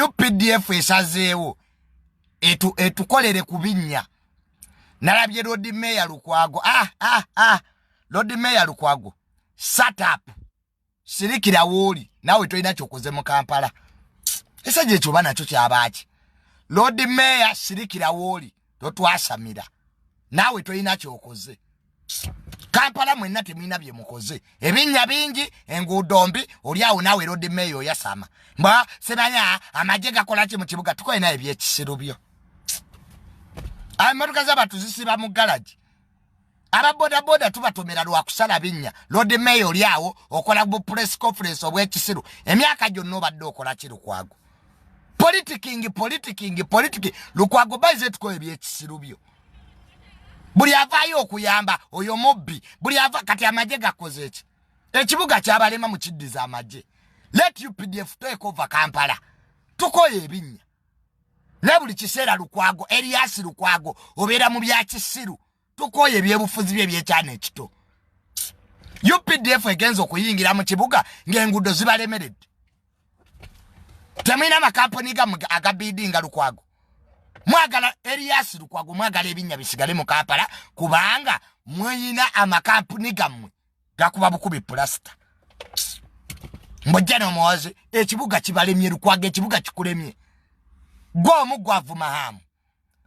updf esazeewo etu, etukolere ku binnya nalabye lodi meya lukwago ah, ah, ah. lodi meya lukwago satup sirikira wooli naawe tolina kyokoze mu kampala esajja ekyo oba nakyo kyabaaki lodi meya sirikira wooli totwasamira naawe tolina kyokoze kampala mwenna temulina bye mukoze ebinnya bingi enguudo mbi oli awo naawe erodi meeyo oyasama mba semanya amagye gakola ki mu kibuga tukolinayo ebyekisiru byo amotoka zabantu zisiba mu galagi aba bodaboda tubatomera lwakusala binnya lord mayor oli awo okola bu press conference obwekisiru emyaka gyonna obadde okola ki lukwago politikingi politikingi politiki lukwago baize tukola ebyekisiru byo buli avaayo okuyamba oyo mubbi buli ava kati amagye gakoze eki ekibuga kyabalema mukiddiza amagye let updf take over kampala tukoye ebinnya naye buli kiseera lukwago eriyasi lukwago obeera mu byakisiru tukooye ebyebufuzi bye ebyekyana ekito updf egenza okuyingira mu kibuga ng'enguudo zibalemeredde temulina amakampuni gamwe agabidi nga lukwago mwagala eriyasi lukwago mwagala ebinnya bisigale mu kampala kubanga mweyina amakampuni gammwe gakuba bukubi pulasita mbojja nomuwaze ekibuga kibalemye lukwaga ekibuga kikulemye gwe omu gwavuma hamu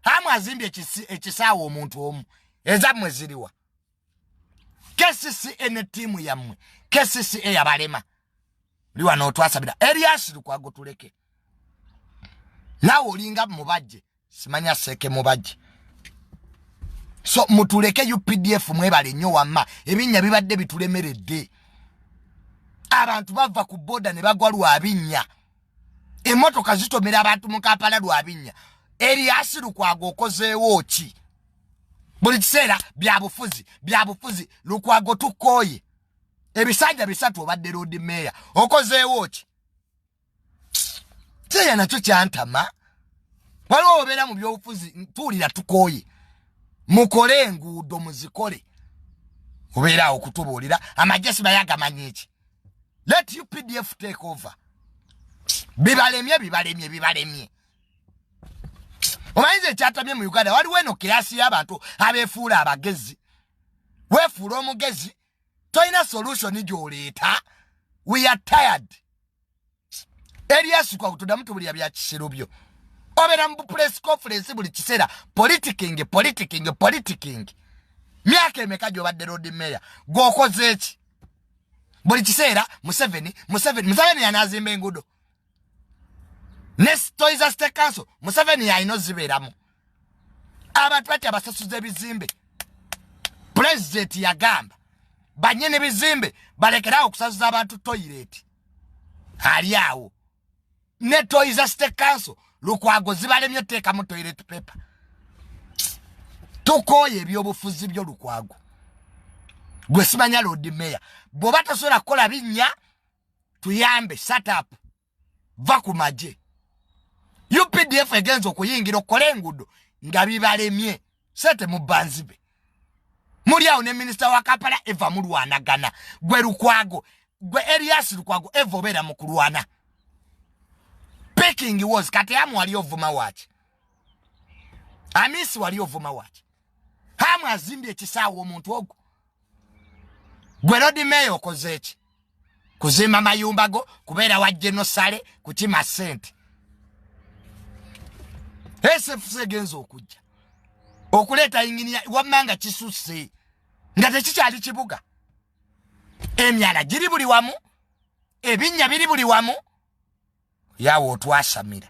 hamu azimbye ekisaawa omuntu omu ezammwe ziriwa kcca ne tiimu yammwe kcca yabalema oli wano otwasabira erias lukwago tuleke naawe olinga mubajje simanya seke mubaji so mutuleke updf mwebale nnyo wamma ebinnya bibadde bitulemeredde abantu bava ku boda ne bagwa lwa binnya emotoka zitomera abantu mu kampala lwa binnya eryasilukwaga okozeewo ki buli kiseera byabufuzi byabufuzi lukwago tukooye ebisanja bisatu obadde loodi meeya okozeewo ki kyeya nakyo kyantama waliwo obeera mu byobufuzi tuwulira tukooye mukole enguudo muzikole obeeraawo okutubuulira amagye sibaye agamanya eki let you pdf take over bibalemye bibalemye bibalemye omanyiza ekyatamye mu uganda waliwo eno kirasi y'abantu abeefuula abagezi weefuula omugezi tolina solution gyoleeta we are tired erias kwa tudamu tubulira bya kisiru byo obera mu press conference buli kiseera politiking politiking politiking myaka emeka gyobadde road mayor gwokoze eki buli kiseera museveni museveni museveni yanazimba engudo ne toyiza state council museveni yalina ozibeeramu abantu bati abasasuza ebizimbe pulezidenti yagamba banyini bizimbe balekerawo okusasuza abantu toyireti ali awo ne toyiza state council lukwago zibalemye oteekamu toyireti pepa tukooye ebyobufuzi byo lukwago gwe simanya lodi meya bw'oba tosobola kukola binnya tuyambe satup va ku magye updf egenza okuyingira okukola enguudo nga bibalemye sente mubanzibe muli awo ne minisita wa kampala eva mulwanagana gwe lukwago gwe elias lukwago eva obeera mu kulwana picking was kati amu wali ovuma waki amisi wali ovuma waki hamu azimbye ekisaawa omuntu ogwo gwe lodi meeya okoze eki kuzimba mayumba go kubeera wa genosale kukima sente sfc egenza okujja okuleeta yinginiya wamma nga kisusse nga tekikyali kibuga emyala giri buli wamu ebinnya biri buli wamu yawe otwasamira